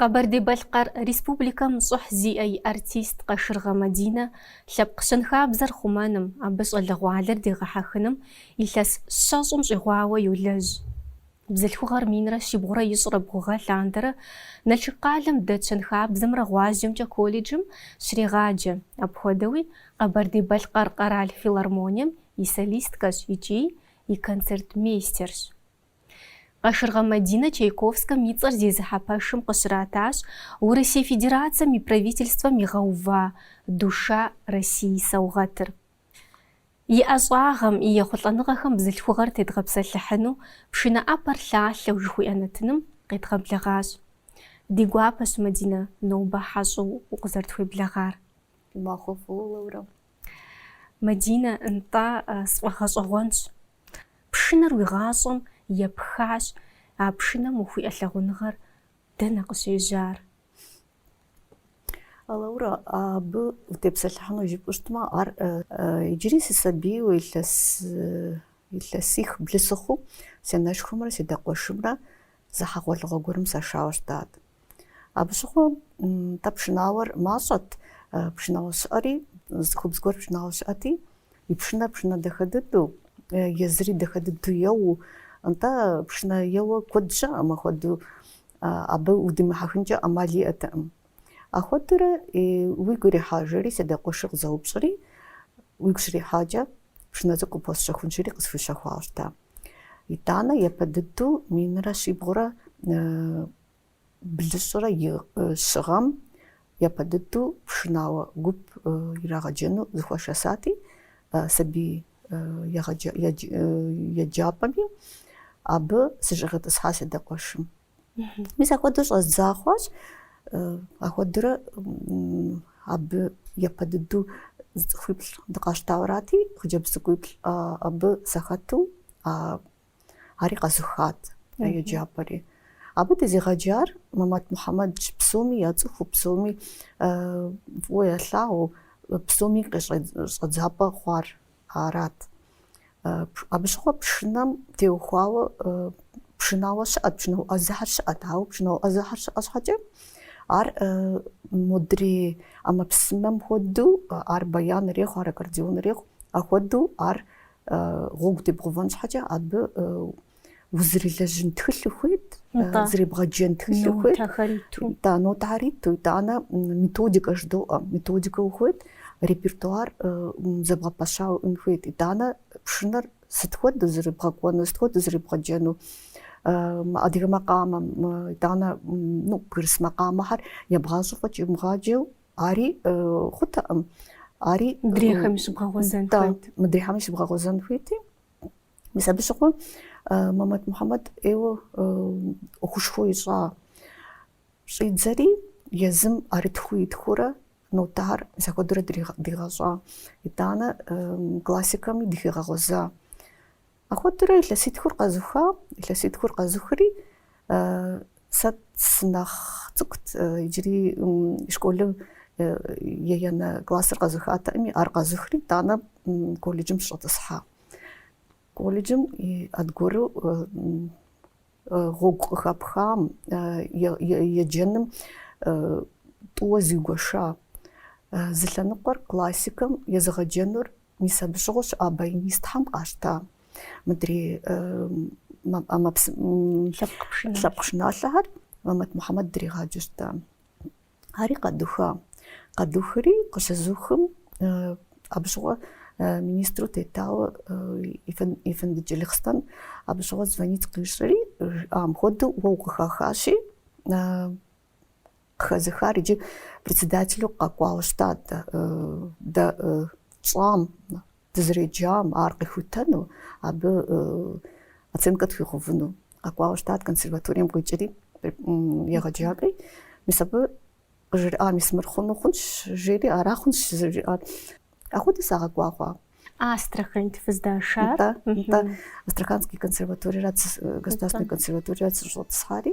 Къэбэрдей-Балъкъэр Республикэм щӏыхь зиӏэ и артист Къашыргъэ Мадинэ лъэпкъ щэнхабзэр хъумэным, абы щӏалэгъуалэр дегъэхьэхыным илъэс щэщӏым щӏигъуауэ йолэжь. Бзылъхугъэр минрэ щибгъурэ ищӏрэ бгъу гъэ лъандэрэ Налшык къалэм дэт щэнхабзэмрэ гъуазджэмкӏэ колледжым щрегъаджэ, апхуэдэуи Къэбэрдей-Балъкъэр къэрал филармонием и солисткэщ икӏи и концертмейстерщ. Къашыргъэ Мадинэ Чайковскэм и цӏэр зезыхьэ пэшым къыщратащ Урысей Федерацэм и Правительствэм игъэува Душа России саугъэтыр. И ӏэщӏагъэм, и ехъулӏэныгъэхэм бзылъхугъэр тедгъэпсэлъыхьыну, пшынэ ӏэпэр лъалъэу жыхуиӏэ нэтыным къедгъэблэгъащ. Ди гуапэщ, Мадинэ, нобэ хьэщӏэу укъызэрытхуеблэгъар. Махуэфӏу, Лаура. Мадинэ, нтӏэ, сфӏэгъэщӏэгъуэнщ. Пшынэр уи гъащӏэм епхащ, а пшынэм ухуиӏэ лъагъуныгъэр Дэнэ къыщежьар? Лаура, абы утепсэлъыхьыну жыпӏэу щытмэ, ар иджыри сысабийуэ илъэс илъэсих блы сыхъуу си анэшхуэмрэ си адэ къуэшымрэ зы хьэгъуэлӏыгъуэ гуэрым сашауэ щытат. Абы щыгъуэ тӏэ пшынауэр мащӏэт, пшынауэ щыӏэри, цӏыхубз гуэр пшынауэ щыӏэти, И пшынэ пшынэ дахэ дыдэу, езыри дахэ дыдэу еуэу, нтӏэ пшынэ еуэ куэд щыӏэми, ахуэдэу, абы удимыхьэхынкӏэ ӏэмал иӏэтэкъым. Ахуэдэурэ уигу ирихьа, жери си адэ къуэшыр къызэупщӏри, уигу щрихьакӏэ пшынэ цӏыкӏу къыпхуэсщэхунщири къысхущэхуащ дэ. Итӏанэ япэ дыдэу минрэ щибгъурэ Блыщӏрэ и щы гъэм япэ дыдэу пшынауэ гуп ирагъэджэну зыхуашэсати, сабий еджапӏэми абы сыщӏигъэтӏысхьа си адэ къуэшым. Мис ахуэдэу щӏэздза хъуащ, ахуэдэурэ абы япэ дыдэу зы цӏыхуиплӏ дыкъащтауэ арати, хъыджэбз цӏыкӏуиплӏ абы сахэту, Ари къэзыхат а еджапӏэри. Абы дезыгъэджар Мэмэт Мухьэмэд, псоми яцӏыхуу, псоми фӏыуэ ялъагъуу, псоми къещӏэдзапӏэ хъуар арат. Абы щыгъуэ пшынэм теухуауэ пшынауэ щыӏэт, пшынауэ ӏэзэхэр щыӏэт, ауэ пшынауэ ӏэзэхэр щыӏэ щхьэкӏэ ар модрей ӏэмэпсымэм хуэдэу ар баян ирехъу, ар аккордеон ирехъу, ахуэдэу ар Гъуэгу дебгъувэн щхьэкӏэ абы узрилэжьын тхылъ ухуейт, зребгъэджэн тхылъ ухуейт. Нотэхэр иту. Да, нотэхэр иту. Итӏанэ методикэ жыдоӏэ. Методикэ ухуейт, репертуар зэбгъэпэщауэ уиӏэн хуейт. Итӏанэ пшынэр сыт хуэдэу зэребгъэкӏуэну, сыт хуэдэу зэребгъэджэну. Адыгэ макъамэм, итӏанэ ну, бгырыс макъамэхэр ебгъащӏэу фӏэкӏ имыгъаджэу Ари хъутэкъым. Ари мыдрейхэми щыбгъэгъуэзэн хуейт. Мыдрейхэми щыбгъэгъуэзэн хуейти. Мис абы щыгъуэ Мамэт Мухьэмэд ӏейуэ ӏуэхушхуэ ищӏа. Щӏидзэри езым ӏэрытхыу итхурэ нотэр мис апхуэдэурэ дигъэщӏа. Итӏанэ классикэми дыхигъэгъуэза. Апхуэдэурэ илъэситхур къэзыха, илъэситхур къэзыхри, сэ сынэхъ цӏыкӏут, иджыри школым еянэ классыр къэзыхатэкъыми, ар къэзыхри, итӏанэ колледжым сщӏэтӏысхьа. Колледжыми аргуэру Гъуэгу къыхэпхам, еджэным тӏууэ зигуэша. Зы лъэныкъуэр классикэм езыгъэджэнур мис абы щыгъуэ щыӏа баянистхьэм къащта мыдрей лъэпкъ пшыналъэхэр Мамэт Мухьэмэд дригъаджэу щыта. Ари къэдуха. Къэдухри къыщызухым, абы щыгъуэ министру тетауэ Ефэнды Джылахъстэн абы щыгъуэ звонить къищӏри, жиӏам хуэдэу уэ укъыхахащи, къыхэзыхар иджы председателу къэкӏуауэ щытат дэ тщӏам Дызреджам ар къихутэну, абы оценкэ тхуигъэувыну къэкӏуауэ щытат консерваторием къикӏри, егъэджакӏуи. Мис абы къыжриӏа, мис мыр хъуну хъунщ, жери, ара хъунщ зэрыжиӏар. Апхуэдэу сагъэкӏуа хъуа. Астраханьт фыздашар? Нтӏэ, нтӏэ. Астраханский консерваториерат, государственный консерваториерат сыщӏэтӏысхьари.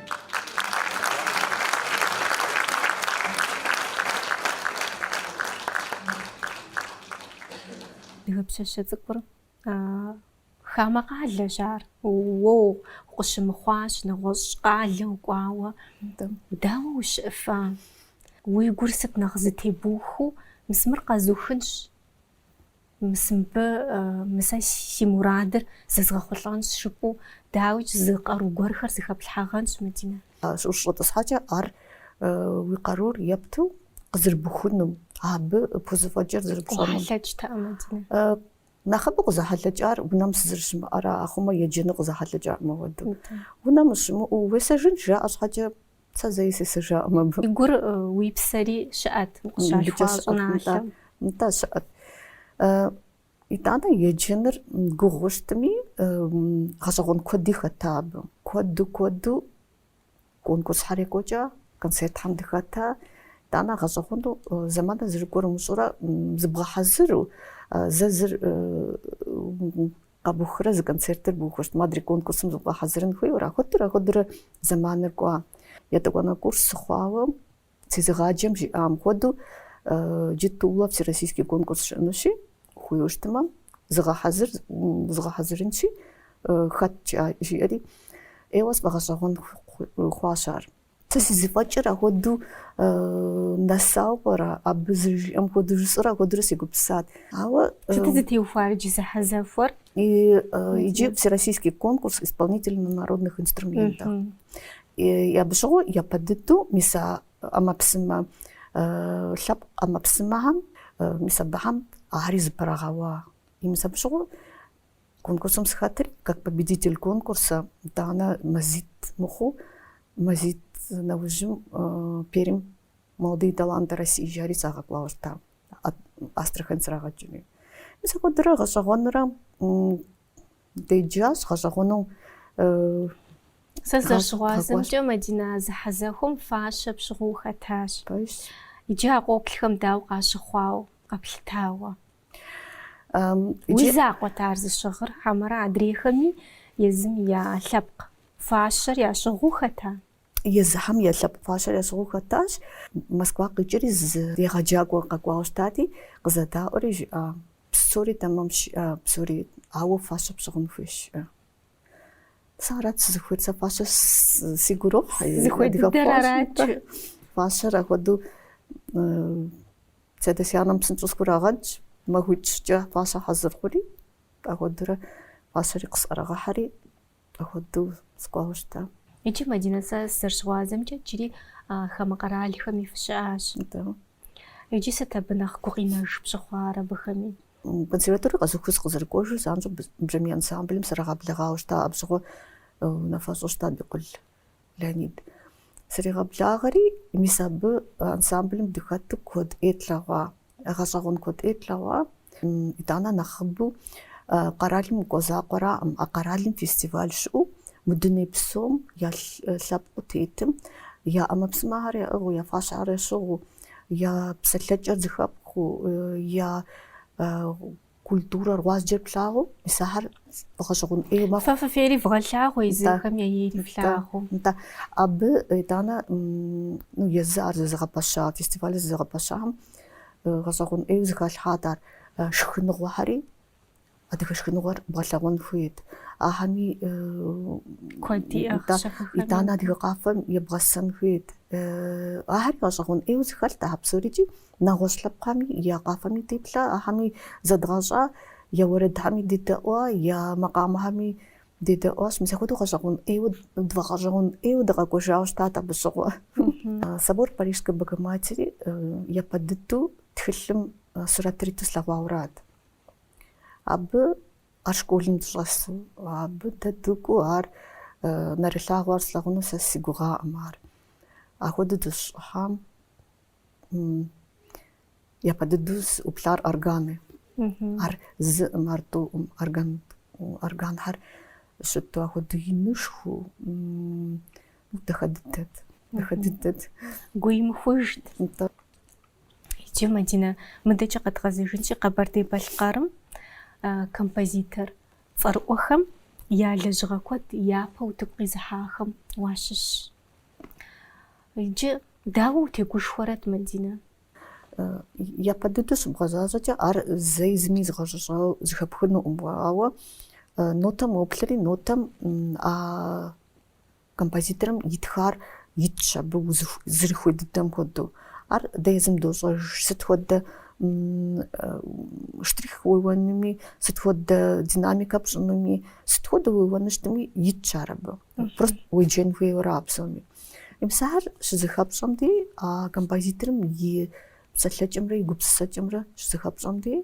Адыгэ пщащэ цӏыкӏур хамэ къалэщ ар. Уэ укъыщымыхъуащ нэгъуэщӏ къалэ укӏуауэ. Дауэ ущыӏэфа? Уи гур сыт нэхъ зытебухуэу, мис мыр къэзухынщ. Мыбы мы сэ си мурадыр зэзгъэхъулӏэнщ жыпӏэу, дауикӏ, зы къару гуэрхэр зыхэплъхьэгъэнщ, Мадинэ. Ущыщӏэтӏысхьэкӏэ ар уи къарур епту къызэрыбухунум, абы пхузэфӏэкӏыр зэрыпщӏэнум. Къохьэлъэкӏтэкъэ, Мадинэ? Нэхъыбэу къызэхьэлъэкӏар унэм сызэрыщымыӏэра, ахъумэ еджэну къызэхьэлъэкӏакъым апхуэдэу. Унэм ущымыӏэу уесэжынщ жаӏэ щхьэкӏэ, Сэ зэи сесэжаӏым абы. Уи гур, уи псэри щыӏэт, укъыщалъхуа щӏыналъэм. Нтӏэ, щыӏэт. Итӏанэ еджэныр гугъуу щытми, гъэщӏэгъуэн куэди хэта абы. Куэду, куэду конкурсхьэр екӏуэкӏа, концертхьэм дыхэта. Итӏанэ гъэщӏэгъуэну зэманыр зэрыкӏуэр умыщӏурэ, зыбгъэхьэзыру, зэ зыр Къэбухрэ зы концертыр бухырт, модрей конкурсым зыбгъэхьэзырын хуейуэ ахуэдурэ, ахуэдурэ зэманыр кӏуа. Етӏуанэ курс сыхъуауэ, сезыгъаджэм жиӏам хуэдэу, джы Тулэ всероссийский конкурс щыӏэнущи, хуейуэ щытмэ, зыгъэхьэзыр, згъэхьэзырынщи, хэткӏа, жиӏэри, ӏейуэ сфӏэгъэщӏэгъуэн хъуащ ар. Сэ си зыфӏэкӏыр ахуэдэу нэсауэ пӏэрэ, абы зыжиӏэм хуэдэу жысӏэрэ ахуэдурэ сегупсысат. Ауэ Сытыт зытеухуар иджы зэхьэзэхуэр? Иджы Всероссийский конкурс исполнителей на народных инструментах. И абы щыгъуэ япэ дыдэу мис а ӏэмэпсымэ, лъэпкъ ӏэмэпсымэхэм, мис абыхэм ари зыпэрагъэуа. И мис абы щыгъуэ Конкурсым сыхэтри как победитель конкурса итӏанэ мазитӏ мыхъуу, мазитӏ нэужьым Пермь молодые таланты России жари сагъэкӏуауэ щыта Астрахань срагъэкӏыри. Мис ахуэдурэ гъэщӏэгъуэнурэ деджащ, гъэщӏэгъуэну Сэ зэрыщыгъуазэмкӏэ Мадинэ а зэхьэзэхуэм фащэ пщыгъыу ухэтащ. Иджы а къоплъхэм дауэ къащыхъуауэ, къэплъытауэ? Уи закъуэт ар зыщыгъыр, хьэмэрэ адрейхэми езым я лъэпкъ фащэр ящыгъыу хэта? Езыхэм я лъэпкъ фащэр ящыгъыу хэтащ. Москва къикӏри зы егъэджакӏуэ къэкӏуауэ щытати, къызэдаӏуэри жиӏа, псори тэмэмщ жиӏэ, псори, ауэ фащэ пщыгъын хуейщ. Сэ арат сызыхуейр, сэ фащэ сигу ирохь. Зыхуей дыдэр арат. Фащэр ахуэдэу Си адэ си анэм псынщӏэу схурагъэдщ, махуитӏ-щыкӏэ фащэ хьэзыр хъури, ахуэдурэ фащэри къысӏэрагъэхьэри, ахуэдэу сыкӏуауэ щыта. Иджы Мадинэ сэ сызэрыщыгъуазэмкӏэ иджыри хамэ къэралхэми фыщыӏащ. Да. Иджы сыт абы нэхъ гукъинэж пщыхъуар абыхэми? Консерваторие къэзухыу сыкъызэрыкӏуэжу занщӏэу бжьамий ансамблым срагъэблэгъауэ щыта, абы щыгъуэ унафэщӏу щыта Бикъул. Леонид. Сригъэблагъэри, мис абы ансамблым дыхэту куэд ӏей тлъэгъуа, гъэщӏэгъуэн куэд ӏей тлъэгъуа. Итӏанэ нэхъыбэу къэралым укӏуэ закъуэраӏым, а къэралым фестиваль щыӏэу мы дуней псом я лъэпкъыу тетым, я ӏэмэпсымэхьэр яӏыгъыу, я фащэхьэр ящыгъыу, я псэлъэкӏэр зыхэпхыу, я Культурэр гъуазджэр плъагъуу, мис ахэр гъэщӏэгъуэн ӏейуэ мэхъу. Фэ фыфейри вгъэлъагъуэ езыхэм я ейри флъагъуу. Да, абы итӏанэ ну езы ар зызыгъэпэща, фестивалыр зызыгъэпэщахэм гъэщӏэгъуэн ӏейуэ зыхалъхьат ар шхыныгъуэхэри, адыгэ шхыныгъуэр бгъэлъэгъуэн хуейт. Ахэми куэд иӏэхъ щэхухэми. Итӏанэ адыгэ къафэм ебгъэсэн хуейт. Ахэри гъэщӏэгъуэн ӏейуэ зыхэлът ахэр псори икӏи Нэгъуэщӏ лъэпкъхэми, я къафэми деплъа, ахэми зэдгъэщӏа, я уэрэдхэми дедэӏуа, я макъамэхэми дедэӏуащ. Мис ахуэдэу гъэщӏэгъуэн ӏейуэ, тфӏэгъэщӏэгъуэн ӏейуэ дыкъэкӏуэжауэ щытат абы щыгъуэ. Собор Парижской Богоматери япэ дыдэу тхылъым сурэтыр иту слъэгъуауэрат. Абы ар школым дыщӏэсу, абы дэ дыкӏуэу ар нэрылъагъуу ар слъэгъуну сэ си гугъаӏым ар. Ахуэдэу дыщыщӏыхьам. япэ дыдэу сызыӏуплъар органы. Ар зыӏым, ар тӏуӏым, орган органхэр щыту ахуэдэ инышху дахэ дыдэт. Дахэ дыдэт. Гуимыхужт. Иджы Мадинэ мыдэкӏэ къэдгъэзэжынщи Къэбэрдей-Балъкъэрым композитор цӏэрыӏуэхэм я лэжьыгъэ куэд япэ утыку къизыхьахэм уащыщщ. Иджы дауэ утегушхуэрэт, Мадинэ? Япэ дыдэу щыбгъэзащӏэкӏэ ар зэи зыми игъэзащӏэу зыхэпхынуӏым, ауэ нотэм уоплъри, нотэм а композиторым итхар итщ абы зэрыхуей дыдэм хуэдэу. Ар дэ езым дощӏэж сыт хуэдэ штрих уеуэнуми, сыт хуэдэ динамикэ пщӏынуми, сыт хуэдэу уеуэну щытми итщ ар абы. Просто уеджэн хуейуэ ара а псоми. Мис ар щызэхэпщӏэм де а композиторым и псэлъэкӏэмрэ и гупсысэкӏэмрэ щызэхэпщӏэм де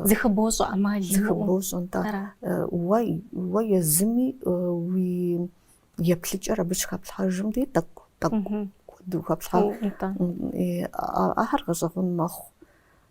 зыхыбощӏэ ӏэмал зыхыбощӏэ нтӏэ уэ уэ езыми уи еплъыкӏэр абы щыхэплъхьэжым де тӏэкӏу тӏэкӏу куэду хэплъхьэ ахэр гъэщӏэгъун мэхъу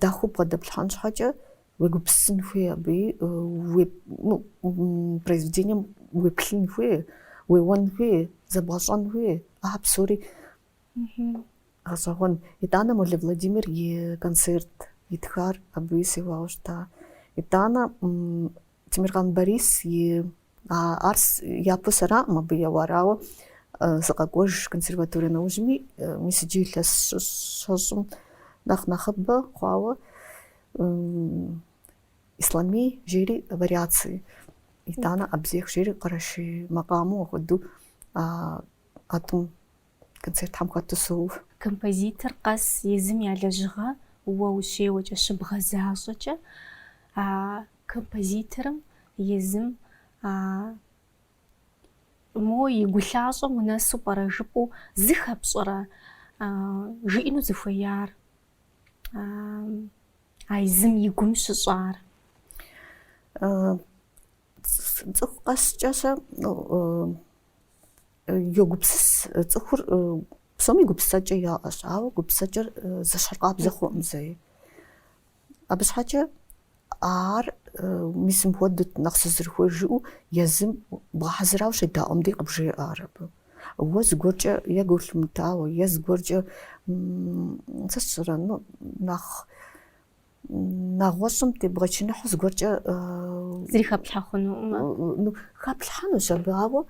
дахэу бгъэдэплъхьэн щхьэкӏэ уегупсысын хуей абыи произведением уеплъын хуей, уеуэн хуей, зэбгъэщӏэн хуей, ахьэ псори гъэщӏэгъуэн. Итӏанэ Молэ Владимир и концерт итхар абыи сеуауэ щыта. Итӏанэ Темиркъан Борис и Ар япэу сэраӏым абы еуар, ауэ сыкъэкӏуэж консерваторие нэужьми, мис иджы илъэс щэщӏым нэхъ нэхъыбэ хъуауэ Ислъамий жери вариации, итӏанэ Абзех жери къэрэшей макъамэу ахуэдэу а тӏум концертхэм хэту соуэ. Композитор къэс езым я лэжьыгъэ уэ ущеуэкӏэ щыбгъэзащӏэкӏэ, а Композиторым езым а мо и гу лъащӏэм унэсу пӏэрэ жыпӏэу зыхэпщӏэрэ жиӏэну зыхуеяр а езым и гум щыщӏар? Цӏыху къэскӏэ сэ йогупсыс, цӏыхур псоми гупсысэкӏэ яӏэщ, ауэ гупсысэкӏэр зыщхьыркъабзэ хъуӏым зэи. Абы щхьэкӏэ ар мис мыхуэдэт нэхъ сызэрыхуейр жыӏэу езым бгъэхьэзырауэ щедаӏуэм дей къыбжеӏэ ар абы. Уэ зыгуэркӏэ е гу лъумытауэ, е зыгуэркӏэ, сэ сщӏэрэ, ну, нэхъ нэгъуэщӏым тебгъэчыныхьу зыгуэркӏэ. Зыри хэплъхьэ хъунуӏымэ? Хэплъхьэнущ абы, ауэ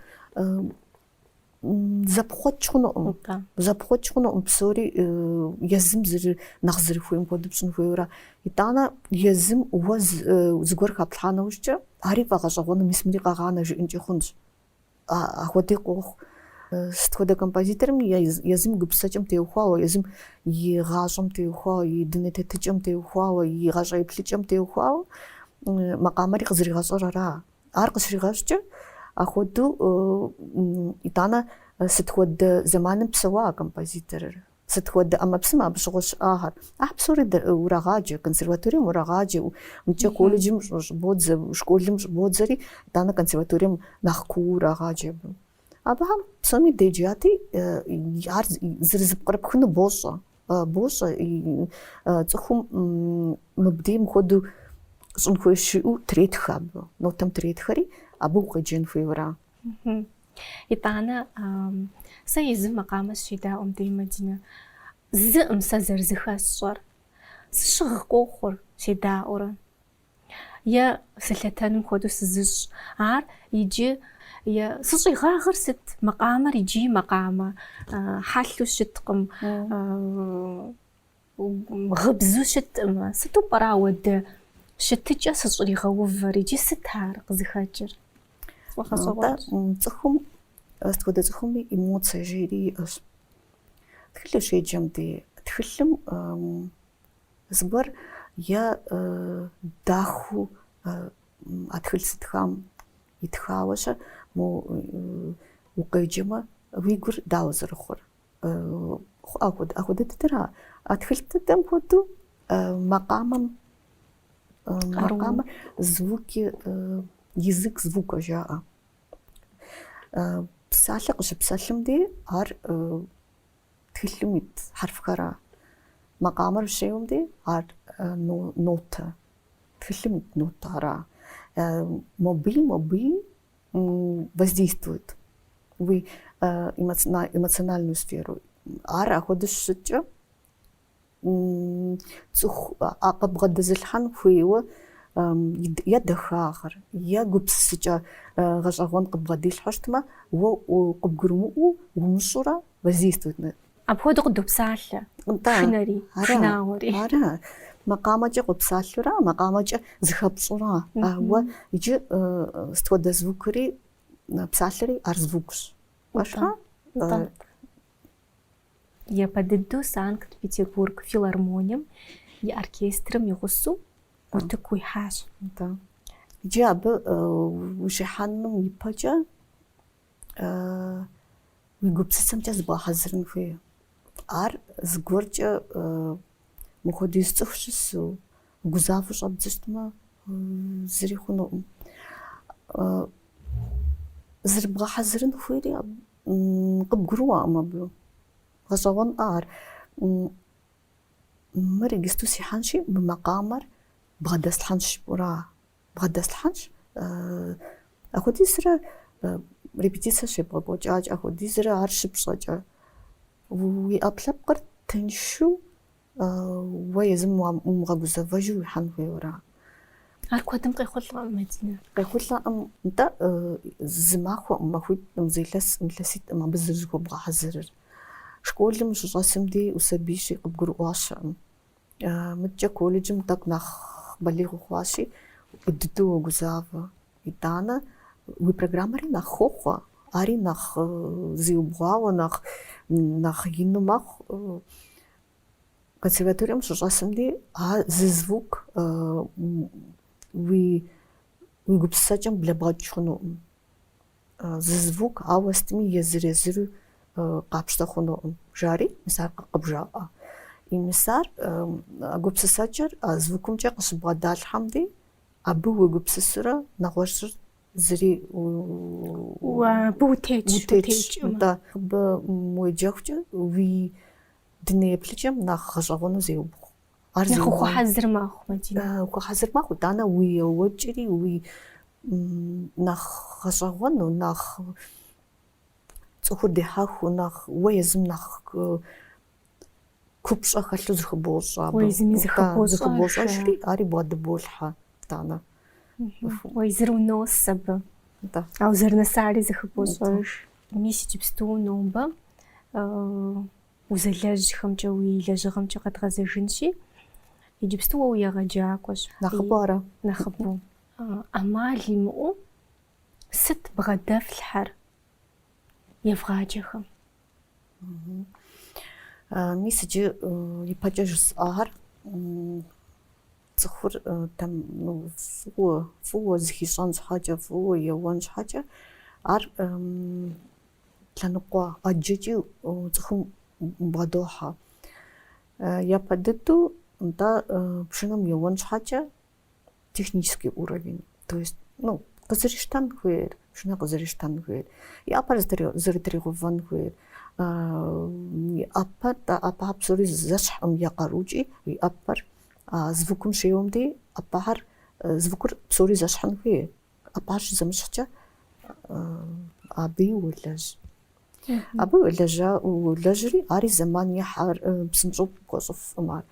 Зэпхъуэкӏ хъунуӏым. Зэпхъуэкӏ хъунуӏым, псори езым зыр нэхъ зэрыхуейм хуэдэу пщӏын хуейуэра. Итӏанэ езым уэ зыгуэр хэплъхьа нэужькӏэ, ари фӏэгъэщӏэгъуэну мис мыри къэгъанэ жыӏэнкӏи хъунщ. Ахуэди къохъу. Сыт хуэдэ композиторым езым и гупсысэкӏэм теухуауэ, езым и гъащӏэм теухуауэ, и дуней тетыкӏэм теухуауэ, и гъащӏэ еплъыкӏэм теухуауэ макъамэри къызэригъэщӏэр ара? Ар къыщригъэщӏкӏэ, ахуэдэу, итӏанэ, сыт хуэдэ зэманым псэуа а композиторыр, сыт хуэдэ ӏэмэпсымэ абы щыгъуэ щыӏагъэр? Ахь псори урагъаджэ, консерваторием урагъаджэ, мыкӏэ колледжым щӏыбодзэ, школым щӏыбодзэри, итӏанэ консерваторием нэхъ куу урагъаджэ абы. Абыхэм псоми деджати, ар зырызыпкърыпхыну бощӏэ. Бощӏэ, цӏыхум мыбдей мыхуэдэу щӏын хуейщ жиӏэу третхэ абы, нотэм третхэри, абы укъеджэн хуейуэра. Итӏанэ, сэ езым макъамэ сыщедаӏуэм дей, Мадинэ, зыӏым сэ зэрызыхэсщӏэр. Сыщыгъ къохъур, седаӏуэрэ. Е сылъэтэным хуэдэу сызыщӏ ар иджы. Е сыщӏигъагъыр сыт? Макъамэр иджы макъамэ. Хьэлъу щыткъым, гъыбзу щытӏымэ. Сыту пӏэрэ ауэдэ щытыкӏэ сыщӏригъэувэр? Иджы сыт ар къызыхэкӏыр? Сфӏэгъэщӏэгъуэнщ. Цӏыхум, сыт хуэдэ цӏыхуми эмоцие жери иӏэщ. Тхылъ ущеджэм дей тхылъым Зыгуэр е дахэу а тхылъ зытхам итхауэ-щэ, мо укъеджэмэ, уи гур дауэ зэрыхъур? Ахуэдэ дыдэра. А тхылъ дыдэм хуэдэу макъамэм макъамэ звуки, язык звука жаӏэ. Псалъэ къыщыпсэлъым дей ар Тхылъым ит хьэрфхэра. Макъамэр щеуэм дей ар нотэ. Тхылъым ит нотэ ара. Мобы и, мобы и воздействует уи эмоциональную сферу. Ар ахуэдэу щыщыткӏэ, Цӏыху къыбгъэдэзылъхьэн хуейуэ е дахагъэр, е гупсысыкӏэ гъэщӏэгъуэн къыбгъэдилъхьэу щытмэ, уэ къыбгурымыӏуэу умыщӏурэ воздействует. Апхуэдэу къыдопсалъэ пшынэри, пшынауэри. Ара, макъамэкӏэ къопсалъэура, макъамэкӏэ зыхэпщӏура. Ауэ иджы сыт хуэдэ звукри псалъэри ар звукщ. Пэжкъэ? Япэ дыдэу Санкт-Петербург филармонием и оркестрым и гъусэу утыку уихьащ. Да. Иджы абы ущихьэным ипэкӏэ уи гупсысэмкӏэ зыбгъэхьэзырын хуейщ. Ар зыгуэркӏэ мыхуэдиз цӏыху щысу, угузавэу щӏэбдзэу щытмэ, зыри хъунукъым. Зэрыбгъэхьэзырын хуейри Къыбгурыӏуэкъым абы. Гъэщӏэгъуэнкъэ ар? Мыр иджысту сихьэнщи, мы макъамэр бгъэдэслъхьэнщ жыпӏэура, бгъэдэслъхьэнщ. Апхуэдизрэ репетицэ щебгъэкӏуэкӏакӏэ, апхуэдизрэ ар щыпщӏэкӏэ уи ӏэпкълъэпкъыр тыншу Уэ езым умыгъэгузэвэжу уихьэн хуейуэ ара. Ар куэдым къехъулӏэкъым, Мадинэ. Къехъулӏэкъым. Нтӏэ, зы махуэкъым, махуитӏкъым, зы илъэскъым, илъэситӏкъым абы зэрызыхуэбгъэхьэзырыр. Школым ущыщӏэсым дей усабийщи, къыбгурыӏуащэкъым. Мыдкӏэ колледжым тӏэкӏу нэхъ балигъ ухъуащи, дыдэу уогузавэ. Итӏанэ уи программэри нэхъ хохъуэ, ари нэхъ зиубгъуауэ, нэхъ ину мэхъу. Консерваторием ущыщӏэсым дей а зы звук уи гупсысэкӏэм блэбгъэкӏ хъунукъым. Зы звук ауэ сытми езыр-езыру къапщтэ хъунукъым, жари мис ар къыбжаӏэ. И мис ар а гупсысэкӏэр а звукымкӏэ къыщыбгъэдалъхьэм дей, абы уегупсысурэ нэгъуэщӏыр зыри абы утетщ, утетщ, нтӏэ, абы уеджэхукӏэ уи дуней еплъыкӏэм нэхъ гъэщӏэгъуэну зеубгъу. Ар нэхъ ухуэхьэзыр мэхъу, Мадинэ. Ухуэхьэзыр мэхъу, итӏанэ уи еуэкӏэри, уи нэхъ гъэщӏэгъуэну, нэхъ цӏыхур дехьэхыу, нэхъ уэ езым нэхъ купщӏэ хэлъу зыхыбощӏэ абы. Уэ езыми зыхыбощӏэ. Зыхыбощӏэжри, ари бгъэдыболъхьэ, итӏанэ. Уэ езыр унос абы. Да. Ауэ зэрынэсари зыхыбощӏэж. Мис иджыпсту нобэ узэлэжьхэмкӏэ, уи лэжьыгъэмкӏэ къэдгъэзэжынщи, иджыпсту уэ уегъэджакӏуэщ. Нэхъыбэу ара? Нэхъыбэу. ӏэмал имыӏэу сыт бгъэдэфлъхьэр евгъаджэхэм? Мис иджы ипэкӏэ жысӏахэр цӏыхур там фӏыуэ фӏыуэ зыхищӏэн щхьэкӏэ, фӏыуэ еуэн щхьэкӏэ ар лъэныкъуэ ӏэджэкӏи цӏыхум бгъэдохьэ. Япэ дыдэу нтӏэ пшынэм еуэн щхьэкӏэ технический уровень, то есть, ну, къызэрищтэн хуейр, пшынэ къызэрищтэн хуейр, и ӏэпэр зэрытригъэувэн хуейр, и ӏэпэр, ӏэпэхьэр псори зэщхькъым я къарукӏи, и ӏэпэр звукым щеуэм дей ӏэпэхьэр, звукыр псори зэщхьын хуей. ӏэпэр щызэмыщхькӏэ, абыи уолэжь. Абы уолэжь, уолэжьри, ари зэман ехьэр, псынщӏэу пхуэщӏыфкъым ар.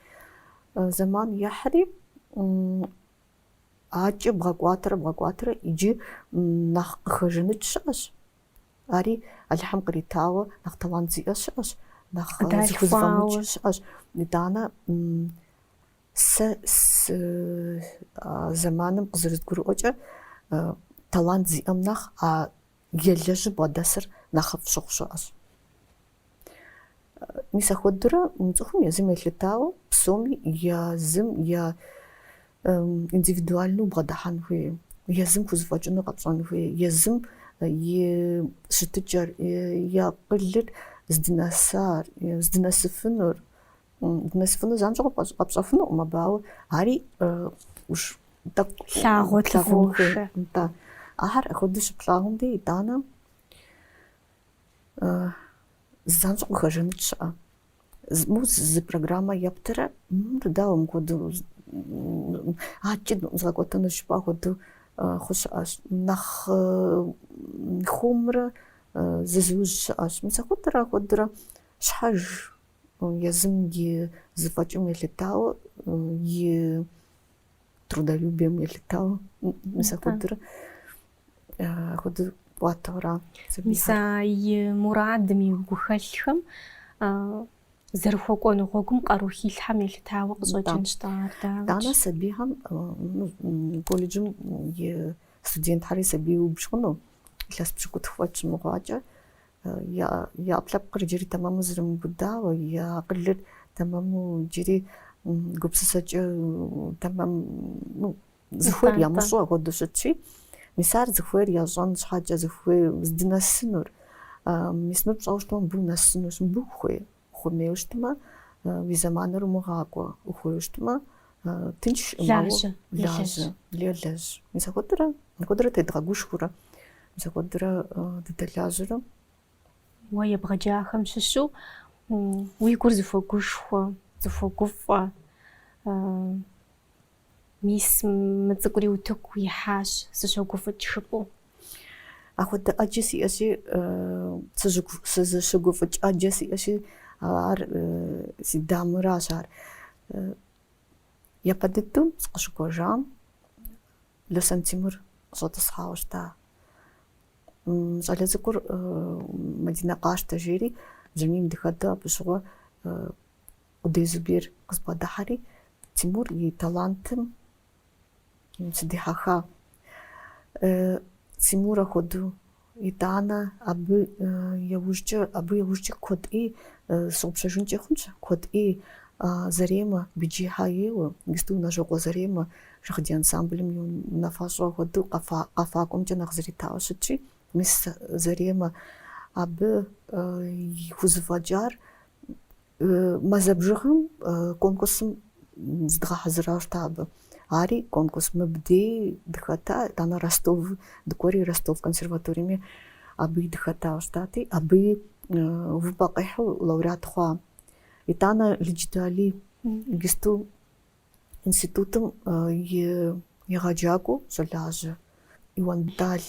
Зэман ехьри, акӏэ бгъэкӏуатэрэ, бгъэкӏуатэрэ, иджы нэхъ къыхэжаныкӏ щыӏэщ. Ари Алыхьым къритауэ нэхъ талант зиӏэ щыӏэщ, нэхъ зыхузэфӏэмыкӏ щыӏэщ. Итӏанэ Сэ сэ зэманым къызэрызгурыӏуэкӏэ талант зиӏэм нэхъ а елэжьыр бгъэдэсыр нэхъыфӏ щыхъу щыӏэщ. Мис ахуэдурэ мы цӏыхум езым елъытауэ псоми езым е индивидуальну бгъэдыхьэн хуей, езым хузэфӏэкӏыну къэпщӏэн хуей, езым и щытыкӏэр, и акъылыр здынэсар, здынэсыфынур, Здынэсыфыну занщӏэу къэпщӏэфынукъым абы, ауэ ари тӏэкӏу лъагъуэ лъагъуэхэ. Да. Ахэр апхуэдэу щыплъагъум де итӏанэ занщӏэу къыхэжаныкӏ щыӏэ. Мы зы программэ ептэрэ дауэ мыхуэдэу акӏи згъэкӏуэтэну жыпӏэ хуэдэу хъу щыӏэщ. Нэхъ хуэмурэ зызыужь щыӏэщ. Мис ахуэдурэ ахуэдурэ щхьэж Езым и зэфӏэкӏым елъытауэ, и трудолюбием елъытауэ, мис апхуэдэрэ апхуэдэ кӏуатэура сабийхэр? Мис абы и мурадым, и гухэлъхэм зэрыхуэкӏуэну гъуэгум къару хилъхьэм елъытауэ къыщӏэкӏынщ тӏэ ар, дауикӏ? Итӏанэ сабийхэм колледжым и студентхьэри сабий убж хъуну, илъэс пщыкӏутху фӏэкӏ щымыхъуакӏэ, Я ӏэпкълъэпкъыр джыри тэмэму зэрымыубыдауэ, я акъылыр тэмэму джыри гупсысэкӏэ тэмэм, ну, зыхуейр ямыщӏу ахуэдэу щытщи, мис ар зыхуейр ящӏэн щхьэкӏэ, зыхуей здынэсынур, мис мыр пщӏэу щытмэ, мыбы унэсынущ, мыбы ухуей. Ухуэмейуэ щытмэ, уи зэманыр умыгъакӏуэ. Ухуейуэ щытмэ, тынш щӏымауэ. Лажьэ. Елэжь. Мис апхуэдэрэ, апхуэдэрэ тедгъэгушхуэрэ, мис апхуэдэрэ дыдэлажьэрэ. Уэ ебгъэджахэм щыщу уи гур зыхуэгушхуэ, зыхуэгуфӏэ, Мис мы цӏыкӏури утыку ихьащ, сыщогуфӏыкӏ жыпӏэу. Апхуэдэ ӏэджэ сиӏэщи, сызыщыгуфӏыкӏ ӏэджэ сиӏэщи, ар си дамэращ ар. Япэ дыдэу сыкъыщыкӏуэжам Лосэн Тимур къыщӏэтӏысхьауэ щыта. Щӏалэ цӏыкӏур Мадинэ къащтэ жери, бжьамийм дихьэхыу абы щыгъуэ Къудей Зубер къызбгъэдыхьэри, Тимур и талантым сыдихьэха. Тимур ахуэдэу, итӏанэ абы яужкӏэ, абы яужкӏэ куэд ӏей сщыгъупщэжынкӏэ хъунщ, куэд ӏей Заремэ, Биджихьэ ейуэ, ГИТИС-у Унэжьокъуэ Заремэ Шагъдий ансамблым и унафэщӏ хуэдэу къэфакӏуэмкӏэ нэхъ зыритауэ щытщи, мис Заремэ абы и хузэфӏэкӏар Мазэ бжыгъэм конкурсым зыдгъэхьэзыра щта абы. Ари конкурс мыбдей дыхэта, итӏанэ Ростов дыкӏуэри, Ростов консерваториеми абыи дыхэта щытати, абыи увыпӏэ къихьу лауреат хъуа. Итӏанэ Лыджытэ Алий ГИТИС-у институтым и егъэджакӏуэу щӏалажьэ Иуан Бетӏал.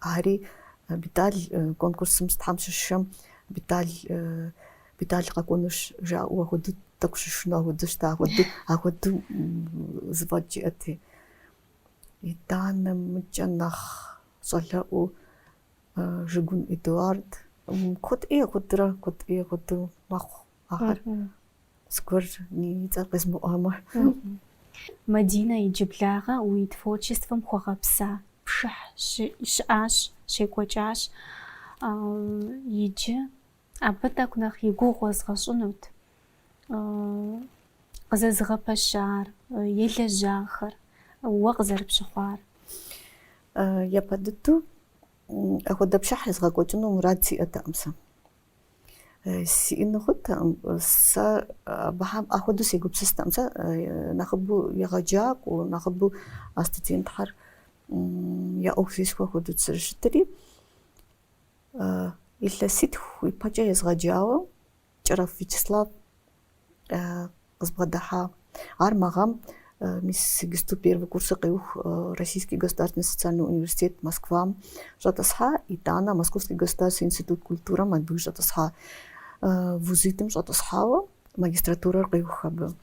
Ари Бетӏал конкурсым сытхэм щыщхэм Бетӏал Бетӏал къэкӏуэнущ жаӏэу ахуэду тӏэкӏу щышыну ахуэду щта ахуэду ахуэду зэфӏэкӏ иӏэти. Итӏанэ мыкӏэ нэхъ щӏалэӏуу Жыгун Эдуард. Куэд ӏей ахуэдурэ, куэд ӏей ахуэду мэхъу. ахэр зыгуэр и цӏэр къезмыӏуамэ. Мадинэ иджыблагъэ уи творчествэм хуэгъэпса пшыхь щыӏащ, щекӏуэкӏащ. Иджы абы тӏэкӏу нэхъ и гугъу уэзгъэщӏынут къызэзыгъэпэщар, елэжьахэр, уэ къызэрыпщыхъуар. Япэ дыдэу апхуэдэ пшыхь езгъэкӏуэкӏыну мурад сиӏэтэкъым сэ. Сиӏэну хъунтэкъым. Сэ абыхьэм ахуэдэу сегупсыстэкъым. Сэ нэхъыбэу егъэджакӏуэу, нэхъыбэу а студентхьэр я ӏуэху зесхуэу ахуэдэу зэрыщытри, илъэситху ипэкӏэ езгъэджауэ Кӏэрэф Вячеслав къызбгъэдыхьа. Ар мы гъэм мис иджыпсту первый курсыр къеух Российский государственный социальный университет Москвам щӏэтӏысхьа, итӏанэ Московский государственный институт культурэм абы щӏэтӏысхьа вузитӏым щӏэтӏысхьауэ магистратурэр къеух абы.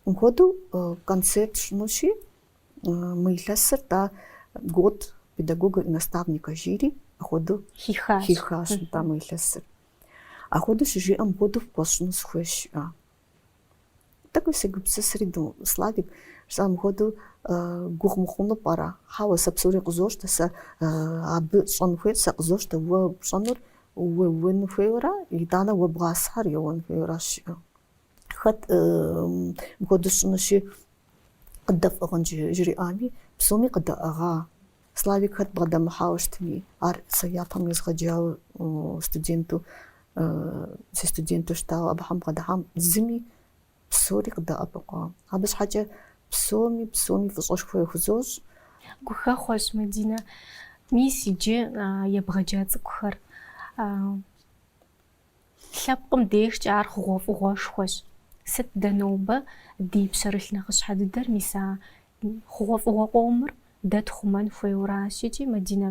Мыхуэдэу концерт сщӏынущи, мы илъэсыр тӏа год педагога и наставника жири апхуэдэу хиха, хихащ тӏа мы илъэсыр. Ахуэдэу щыжиӏэм мыхуэдэу пхуэсщӏыну сыхуейщ, жиӏа. Тӏэкӏуи сегупсысри, ду, Славик, жысӏа мыхуэдэу гугъу мыхъуну пӏэрэ? Хьэуэ, сэ псори къызощтэ, сэ абы щӏэн хуейр, сэ къызощтэ уэ пщӏэнур, уеуэн хуейуэра, итӏанэ уэ бгъасхьэр еуэн хуейуэращ, жиӏэу. Хэт мыхуэдэу сщӏынущи, къыддэфӏыгъын жриӏами, псоми къыдэӏыгъа. Славик хэт бгъэдэмыхьауэ щытми, ар сэ япэм езгъэджауэ студенту, си студенту щытауэ абыхьэм бгъэдыхьам, зыми псори къыдэӏэпыкъуа. Абы щхьэкӏэ псоми, псоми фӏыщӏэшхуэ яхузощӏ. Гухэхъуэщ, Мадинэ. Мис иджы ебгъэджа цӏыкӏухэр Лъэпкъым дежкӏэ ар хъугъуэфӏыгъуэшхуэщ. Сыт дэ нобэ ди пщэрылъ нэхъыщхьэ дыдэр, мис а хъугъуэфӏыгъуэ къомыр дэ тхъумэн хуейуэращ икӏи, Мадинэ,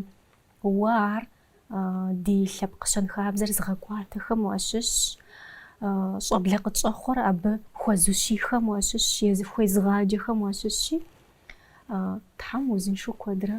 уэ ар ди лъэпкъ щэнхабзэр зыгъэкӏуатэхэм уащыщщ, щӏэблэ къытщӏэхъуэр абы хуэзущихэм уащыщщ, езы, хуезыгъаджэхэм уащыщщи, Тхьэм узыншэу куэдрэ